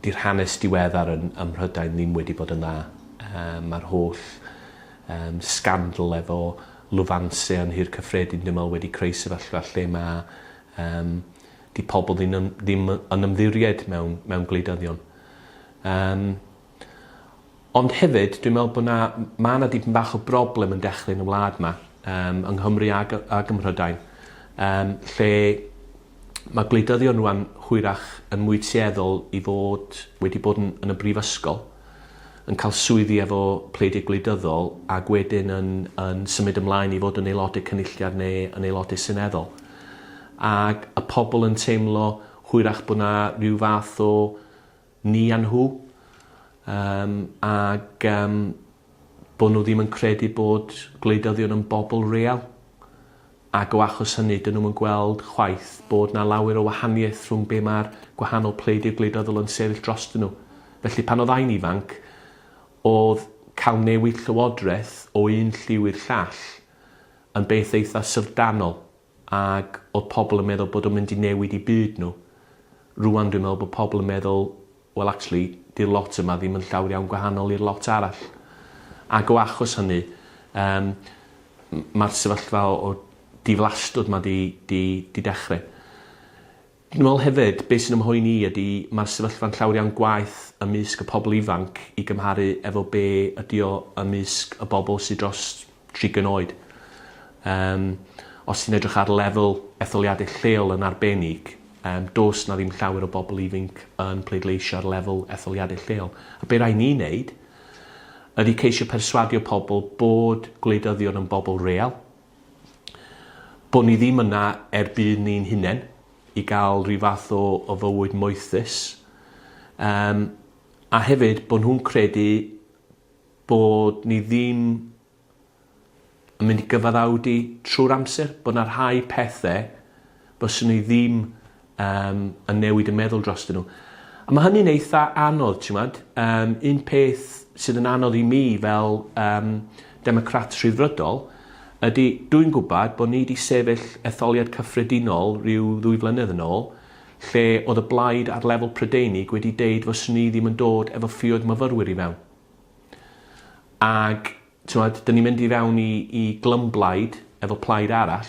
'di'r hanes diweddar yn ym Mhrydain ddim wedi bod yn dda. Yym ma'r holl yym sgandal efo lwfanse yn Nhŷ'r Cyffredin dwi me'wl wedi creu sefyllfa lle ma' yym 'di pobol ddim yn ddim yn ymddiried mewn mewn gwleidyddion. Yym. Ond hefyd dwi'n me'wl bo' 'na m- ma' 'na dipyn bach o broblem yn dechre yn y wlad 'ma yym yng Nghymru ag yy ag ym Mhrydain yym lle ma' gwleidyddion rŵan hwyrach yn mwy tueddol i fod wedi bod yn yn y brifysgol yn ca'l swyddi efo pleidiau gwleidyddol ag wedyn yn yn symud ymlaen i fod yn aelode cynulliad ne' yn aelode seneddol. Ag y pobol yn teimlo hwyrach bo' 'na ryw fath o ni a nhw yym ag yym bod nhw ddim yn credu bod gwleidyddion yn bobl real ac o achos hynny dyn nhw'm yn gweld chwaith bod 'na lawer o wahaniaeth rhwng be' ma'r gwahanol pleidiau gwleidyddol yn sefyll drostyn nhw. Felly pan oddai'n ifanc odd cael newid llywodraeth o un lliw i'r llall yn beth eitha' syfrdanol ac oedd pobl yn meddwl bod o'n mynd i newid i byd nhw. Rwan dwi'n meddwl bod pobl yn meddwl wel actually di'r lot yma ddim yn llawr iawn gwahanol i'r lot arall. Ac o achos hynny yym m- mae'r sefyllfa o o diflastwd 'ma 'di 'di 'di dechre. Yn ôl hefyd, be sy'n 'y mhoeni i ydi mae'r sefyllfa'n llawr iawn gwaeth ymysg y pobl ifanc i gymharu efo be ydi o ymysg y bobl sy dros 30 oed. Yym, os ti'n edrych ar lefel etholiadau lleol yn arbennig, yym, does 'na ddim llawer o bobl ifinc yn pleidleisio ar lefel etholiadau lleol. A be rai ni'n neud ydi ceisio perswadio pobl bod gwleidyddion yn bobl real, Bod ni ddim yna er budd ni'n hunen, i gael rhyw fath o o fywyd moethus. Yym, a hefyd bod nhw'n credu bod ni ddim yn mynd i gyfaddawdu trwy'r amser, bod 'na rhai pethe Byswn i ddim yym yn newid y meddwl drostyn nhw. A ma' hynny'n eitha anodd t'mod? Yym un peth sydd yn anodd i mi fel yym Democrat Rhyddfrydol ydi dwi'n gwbod bo' ni 'di sefyll etholiad cyffredinol ryw ddwy flynedd yn ôl lle o'dd y blaid ar lefel Prydeinig wedi deud fyswn i ddim yn dod efo ffioedd myfyrwyr i fewn. Ag T'mod, 'dyn ni'n mynd i fewn i i glymblaid efo plaid arall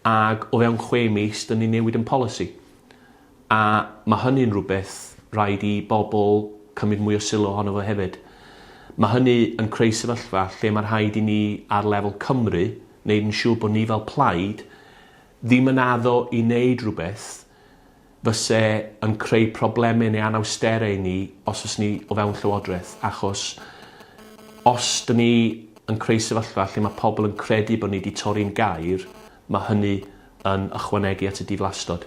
ag o fewn chwe mis 'dyn ni'n newid 'yn polisi. A ma' hynny'n rwbeth rhaid i bobol cymryd mwy o sylw ohono fo hefyd. Ma' hynny yn creu sefyllfa lle ma' rhaid i ni ar lefel Cymru neud yn siŵr bo' ni fel plaid ddim yn addo i neud rwbeth fyse yn creu probleme neu anawstere i ni os o's ni o fewn Llywodreth achos os dyn ni yn creu sefyllfa lle mae pobl yn credu bod ni wedi torri'n gair, mae hynny yn ychwanegu at y diflastod.